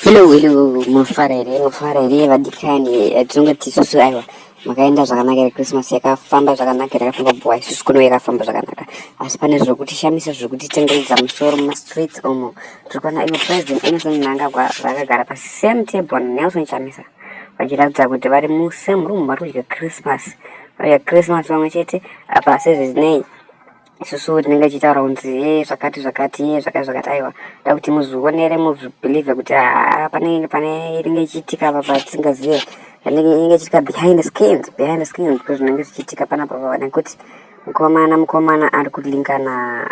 Hello, hello, mofara here, mofara here vadikani, eh, tinonge tisusu aiwa makaenda zvakanaka here Christmas yakafamba zvakanaka here yakafamba bhuwa isusu kuno yakafamba zvakanaka asi pane zvekuti shamisa zvekuti tengeredza musoro mumastreets omo tiri kuona ivo president Emerson Mnangagwa vakagara pa same table Nelson Chamisa vachiratidza kuti vari mu same room vari kudya Christmas vari kudya Christmas pamwe chete apa sezvizinei isusu tinenge tichitaura kunzi e zvakati zvakati e zvakati zvakati aiwa da kuti muzvionere muzvibhilivhe kuti haa panenge pane inenge ichiitika apa patisingazive inenge ichiitika behind the skins behind the skins because zvinenge zvichiitika panapa pava nekuti mukomana mukomana ari kulinka na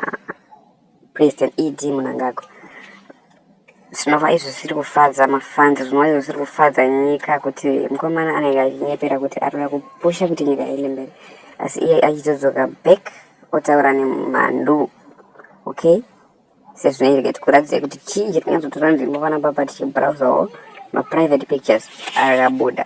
president ed munangagwa zvinova izvo zvisiri kufadza mafans zvinova izvo zvisiri kufadza nyika kuti mukomana anenge achinyepera kuti ari kuda kupusha kuti nyika iende mberi asi iye achizodzoka back otaura nemhandu okay sezvinoitika tikuratidze kuti chii chiri kunyatsotora nzvimbo panapa pa tichibrowsawo maprivate pictures akabuda